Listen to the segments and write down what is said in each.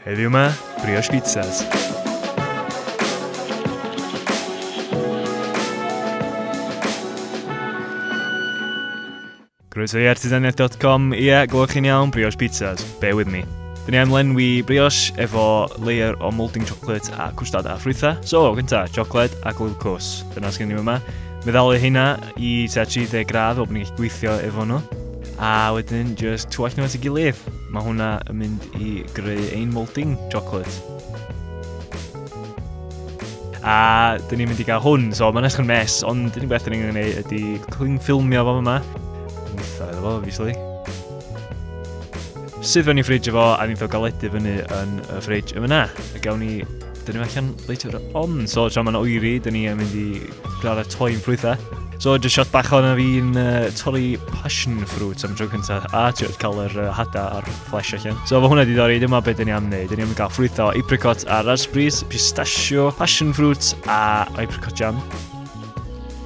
Heddiw 'ma, brioche pizzas. Croeso i artisaniaeth.com, ie, yeah, glywch chi'n iawn, brioche pizzas, bear with me. Dyn ni am lenwi brioche efo layer o moulding chocolate a cwstad a ffrwytha. So, gynta, chocolate a glwyl cws. Dyna sgyn ni yma. Meddalu hynna i tua 30 gradd o bod ni'n gweithio efo nhw. A wedyn just twall nhw at y gilydd. Mae hwnna yn mynd i greu ein moulding chocolate. A dyn ni'n mynd i gael hwn, so mae'n eich yn mes, ond dyn ni'n beth dyn ni'n gwneud ydy cling ffilmio fo yma. Mwtha iddo fo, obviously. Sydd fewn i ffridge efo, a ni'n fawr galedu fyny yn y ffridge yma na. A gawn ni Dyn ni allan later on. So, tra mae'n oeri, dyn ni yn mynd i gradd y toi'n ffrwythau. So, just shot bach o'n fi'n uh, torri passion fruit am dro cyntaf. A ti'n cael yr uh, hada a'r flesh allan. So, fo hwnna di ddori, dyma beth dyn ni am wneud. Dyn ni am gael ffrwythau, apricot a raspberries, pistachio, passion fruit a apricot jam.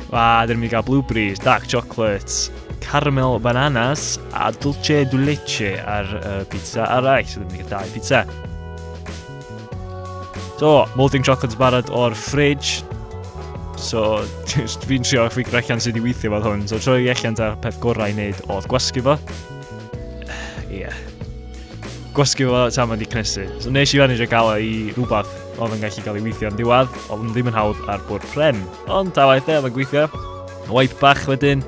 A dyn ni'n cael blueberries, dark chocolates, caramel bananas a dulce du leche ar uh, pizza arall. So, dyn ni'n cael dau pizza. So, molting chocolates barod o'r fridge. So, just fi'n trio fi allan sydd wedi weithio fod hwn. So, troi allan ta peth gorau i wneud oedd gwasgu fo. Ie. Yeah. Gwasgu fo ta mae'n di cnesu. So, nes i fan eisiau gael i rhywbeth oedd yn gallu cael ei weithio yn diwedd, oedd yn ddim yn hawdd ar bwrdd pren. Ond ta waith e, oedd yn gweithio. Wipe bach wedyn,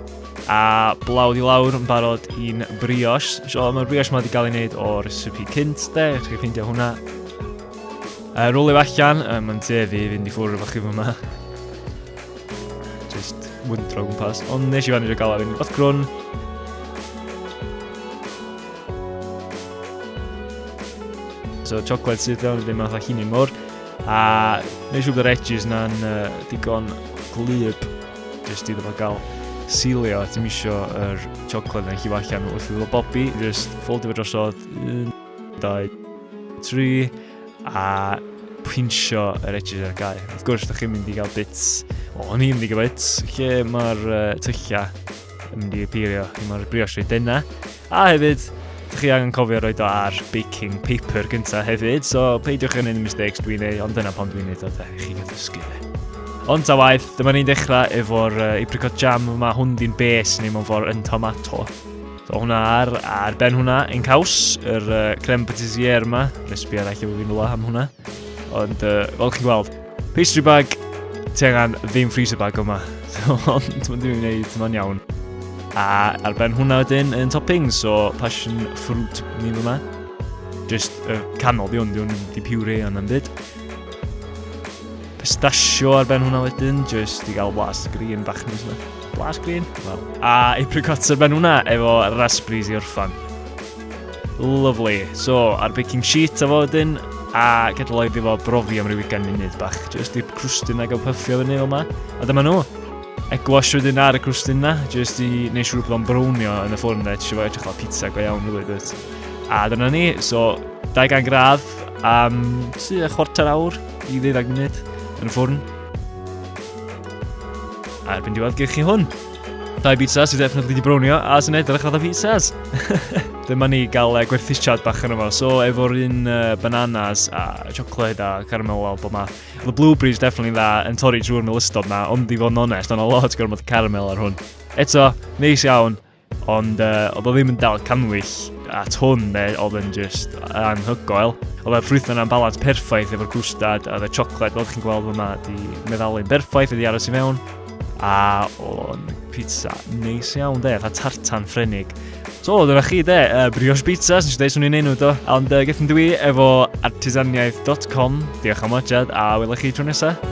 A blawd i lawr yn barod i'n brioche. So, mae'r brioche mae wedi cael ei wneud o recipe cynt, de, chi'n gallu ffeindio hwnna. Uh, rwlio allan, um, mae'n te fi fynd i ffwrdd efo chi fyma. Just wyndro gwmpas, ond nes i fan i'r gael fi'n fath grwn. So, chocolate sydd iawn, ddim yn fath hynny mor. A nes i wybod yr edges na'n uh, digon glyb. Jyst iddo fo gael silio, a ti'n misio yr chocolate yn llifo allan wrth iddo fo bobi, jyst ffoldio fo drosodd, un, dau, tri, a pinsio yr edges ar gael. Wrth gwrs, da chi'n mynd i gael bits, o, o'n i'n mynd i gael bits, lle mae'r uh, tylliau yn mynd i apeirio, lle mae'r brioche reit denna, A hefyd, dych chi angen cofio roi do ar baking paper gyntaf hefyd, so peidiwch yn un mistakes dwi'n ei, ond dyna pan dwi'n neud o, dech chi'n gyffysgu fe. Ond ta waith, dyma ni'n dechrau efo'r uh, apricot jam yma, hwn di'n bes neu mewn ffordd yn tomato. So hwnna ar, ar ben hwnna yn caws, yr uh, creme patissier yma. Nes bi arall efo fi'n rhywle am hwnna. Ond uh, fel chi'n gweld, Pastry bag, ti angen ddim freezer bag yma. Ond mae'n ddim yn gwneud, mae'n iawn. A ar ben hwnna wedyn yn topping, so passion fruit ni fyma. Just y uh, canol di hwn, di hwn di puree yna'n byd. Pistachio ar ben hwnna wedyn, just i gael blas green bach nes yna. Blas green? Well. A apricots ar ben hwnna efo raspberries i orffan. Lovely. So, ar baking sheet a fo wedyn, a gadael oedd efo brofi am rhyw ugain munud bach, jyst i'r crwstyn na gael pyffio fyny fel yma. A dyma nhw. Egwash wedyn ar y crwstyn na, jyst i wneud siŵr bod o'n brownio yn y ffwrn na, eisiau fo edrych fel pizza go iawn rili dwyt. A dyna ni, so 200 gradd am tu a chwarter awr i ddeuddag munud yn y ffwrn. A erbyn diwedd gyrchu hwn. Dau pizza sydd definitely di brownio a sy'n edrych fatha pizzas. Dyma ni gael uh, gwerthusiad bach yn yma. So efo'r un uh, bananas a chocolate a caramel wel bob math. The blueberries definitely dda yn torri drwy'r melystod na, ond i fod yn onest, ond o lot gormod caramel ar hwn. Eto, neis iawn, ond uh, oedd o ddim yn dal canwyll at hwn ne, oedd yn just anhygoel. Oedd y ffrwythau yna'n balans perffaith efo'r gwstad a the chocolate, fel chi'n gweld yma, di meddalu'n berffaith, wedi aros i mewn. A o'n pizza neis iawn de, fa tartan ffrenig. So, dyna chi de, uh, brioche pizza, sy'n siarad swn i'n enw do. Ond uh, gethon dwi efo artisaniaeth.com. Diolch am wajad a wylech chi tro nesaf.